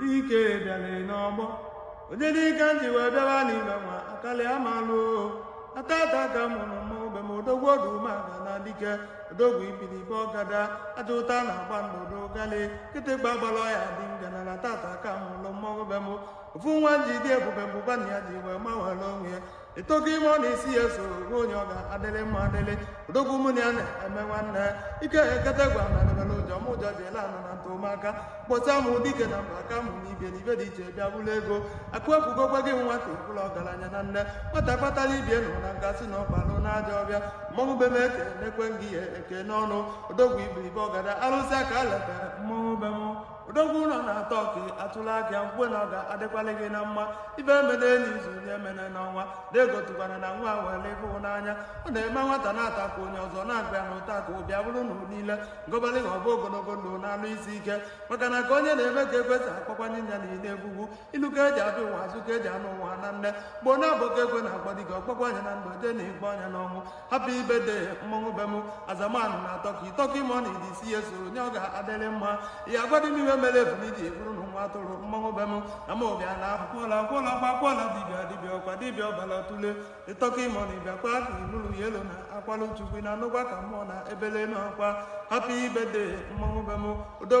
dike bịara n'ọgbọ onye dike ntị wee bịawa n'ime nwa akalị amalụ na tata ka a mụrụ mmọnwụ be m odogwu odu maga na dike odogwu ibili ibe ọgada aja ụta na agba ndụdụ galị kịtịkpa gbara ọya dị ngana na tata ka a mụrụ mmọnwụ be m ofu nwa ji dị ebube mbụba na ya ji wee mawara onwe ya ịtọki mọni isi ya soro onye ọ ga-adịrị mma adịrị odogwu mụ na ya na-eme nwanne ike ekete gwa na debere ụjọ m ụjọ ji ele anọ na ntụmaka kpọta m dike na mba ka mụ na ibe na ibe dị iche bịa bụrụ ego akụ ekwugokwa gị nwa ka ịbụla ọgaranya na nne nwata kpatara ibie nụ na ngasị na ọkpalụ na aja ọbịa mmọnwụ be m ekenekwe m gị ya ekene ọnụ odogwu iberibe ọgada arụsị aka letara mmọnwụ be m odogwu ụlọ na-atọ ọkụ atụla aka ya mkwe na ọ ga-adịkwala gị na mma ibe emene n'izu nye emene n'ọnwa na-egotukwana na nwa were ịfụ n'anya ọ na-eme nwata na-ata ka onye ọzọ na-agba ya na ụta ka ọ bịa bụrụ na niile ngọbalị ha ọ bụ ogologo ndụ na arụ isi ike maka na ka onye na-eme ka ekwesị akpakwanye nya na ile egwugwu ilu ka eji abịa ụwa azụ ka eji ana ụwa na nne gboo na-abụ ka ekwe na-agbadiga ọkpakwa anya na ndụ jee na igbe ọnya n'ọnwụ happy birthday to mmọnwụ be m azamanụ na tọki tọki mọni dị isi ya soro onye ọ ga-adịrị mma ya agwadị m ihe mere efu n'iji eburu na nwa atụrụ mmọnwụ be m na ma ọ bịa na akwụkwọla akwụkwọla ọkwa akwụkwọla dibịa dibịa ọkwa dibịa ọbara tụle ịtọki mọni bịakwa ka inuru ya elu na akwalụ chukwu na anụkwa ka mmụọ na ebele na ọkwa happy birthday to mmọnwụ be m odogwu